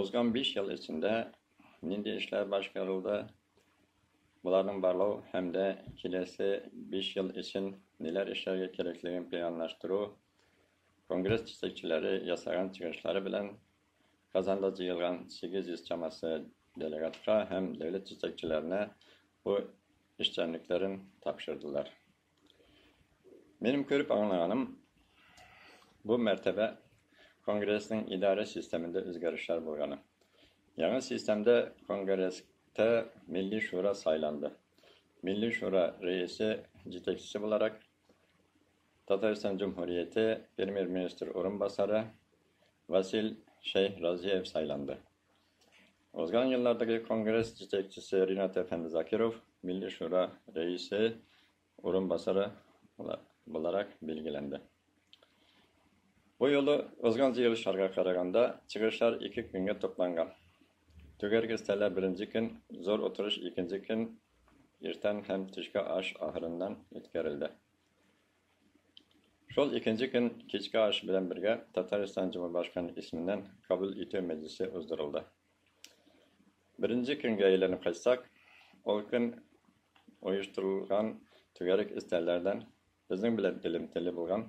Узган биш ел эчендә нинди эшләр башкарылды, боларның барлау һәм дә киләсе биш ел өчен ниләр эшләргә кирәклеген планлаштыру, конгресс җитәкчеләре ясаган чыгышлары белән Казанда җыелган 800 чамасы делегатка һәм дәүләт җитәкчеләренә бу эшчәнлекләрен тапшырдылар. Минем күреп аңлаганым, бу мәртәбә конгрессның идарә системында үзгәрешләр булганы. Яңа системда конгресста Милли шура сайланды. Милли шура рәисе, җитәкчесе буларак Татарстан Җөмһүрияте премьер-министр урынбасары Васил Шәйх Разиев сайланды. Узган еллардагы конгресс җитәкчесе Ринат әфәнде Закиров Милли шура рәисе урынбасары буларак билгеләнде. Бу юлы узган җыелышларга караганда, чыгышлар ике көнгә тупланган. Түгәрәк өстәлә беренче көн, зур утырыш икенче көн иртән һәм төшке аш ахырыннан үткәрелде. Шул икенче көн кичке аш белән бергә Татарстан Җомарбашканы исеменнән кабул итү мәҗлесе уздырылды. Беренче көнгә әйләнеп кайтсак, ул көн оештырылган түгәрәк өстәлләрдән безнең белән элемтәле булган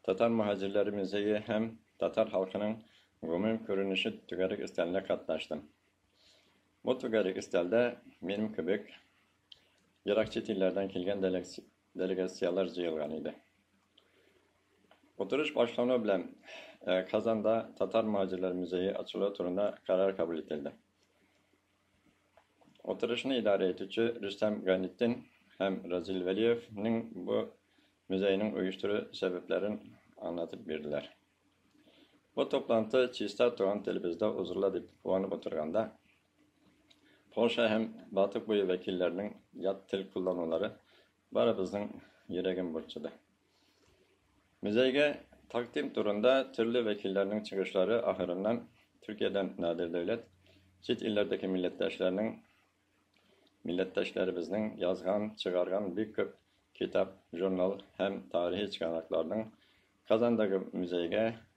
Татар мөһаҗирләре музее һәм татар халкының гомум күренеше түгәрәк өстәленә катнаштым. Бу түгәрәк өстәлдә минем кебек ерак чит илләрдән килгән Делегацияләр җыелган иде. Утырыш башлану белән Казанда Татар мөһаҗирләр музее ачылуы турында карар кабул ителде. Утырышны идарә итүче Рөстәм Гайнетдин һәм Разил Вәлиевнең бу музейның оештыру сәбәпләрен аңлатып бирделәр. Бу топланты чиста туган телебездә узырла дип куанып утырганда, Полша һәм Балтык буе вәкилләренең ят тел кулланулары барыбызның йөрәген борчыды. Музейга тәкъдим турында төрле вәкилләрнең чыгышлары ахырыннан Төркиядән Надир Дәүләт, чит илләрдәге милләттәшләрнең милләттәшләребезнең язган, чыгарган бик күп китап, журнал һәм тарихи чыганакларның Казандагы музейга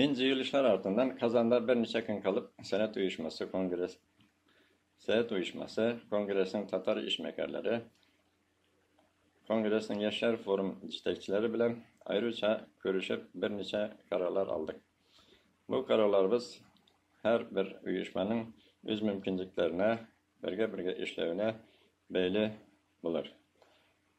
Мин җыелышлар артыннан Казанда берничә көн калып, Сәләт оешмасы конгресс Сәләт оешмасы конгрессның татар эшмәкәрләре конгрессның яшьләр форум җитәкчеләре белән аеруча күрешеп берничә карарлар алдык. Бу карарларыбыз һәр бер оешманың үз мөмкинлекләренә, бергә-бергә эшләвенә бәйле булыр.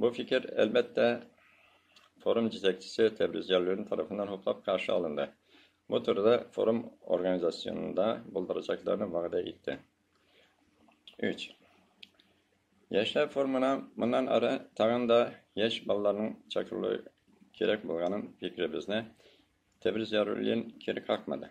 Бу фикер, әлбәттә, форум җитәкчесе Тәбриз Җәллуллин тарафыннан хуплап каршы алынды. Бу турыда форум организационында булдырачакларын вәгъдә итте. Өч. Яшьләр форумына моннан ары тагын да яшь балаларның чакырылуы кирәк булганын фикеребезне Тәбриз Җәллуллин кире какмады.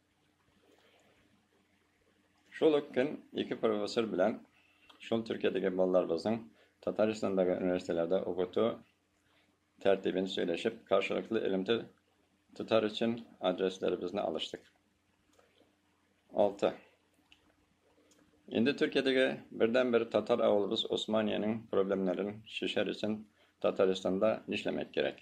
Шул ук көн ике профессор белән шул Төркиядәге балаларыбызның Татарстандагы университетларда укыту тәртибен сөйләшеп, каршылыклы элемтә тотар өчен адресларыбызны алыштык. 6. Инде Төркиядәге бердән-бер татар авылыбыз Османиянең проблемнарын шешәр өчен Татарстанда нишләмәк кирәк?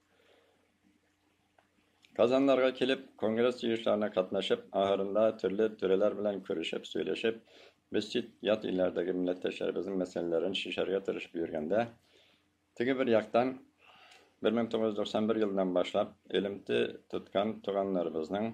Казаннарга килеп, конгресс җыешларына катнашып, ахырында төрле түрәләр белән күрешеп, сөйләшеп, без чит ят илләрдәге милләттәшләребезнең мәсьәләләрен чишәргә тырышып йөргәндә, теге бер яктан 1991 елыннан башлап элемте тоткан туганнарыбызның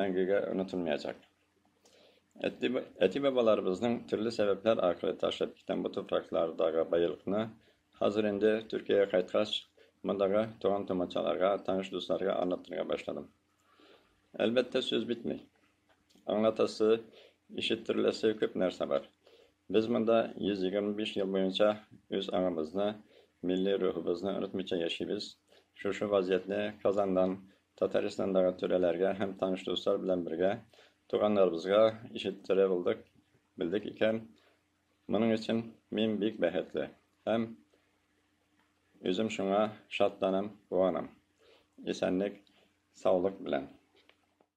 мәңгегә онытылмаячак. Әти-бабаларыбызның төрле сәбәпләр аркылы ташлап киткән бу туфраклардагы байлыкны хәзер инде Төркиягә кайткач, мондагы туган-тумачаларга, таныш дусларга аңлатырга башладым. Әлбәттә, сүз бетми. Аңлатасы, ишеттереләсе күп нәрсә бар. Без монда 125 ел буенча үз аңыбызны, милли рухыбызны онытмыйча яшибез. Шушы вазиятне Казаннан, Татарстандагы түрәләргә һәм таныш дуслар белән бергә туганнарыбызга ишеттерә булдык, белдек икән. Моның өчен мин бик бәхетле һәм үзем шуңа шатланам, куанам. Исәнлек, саулык белән.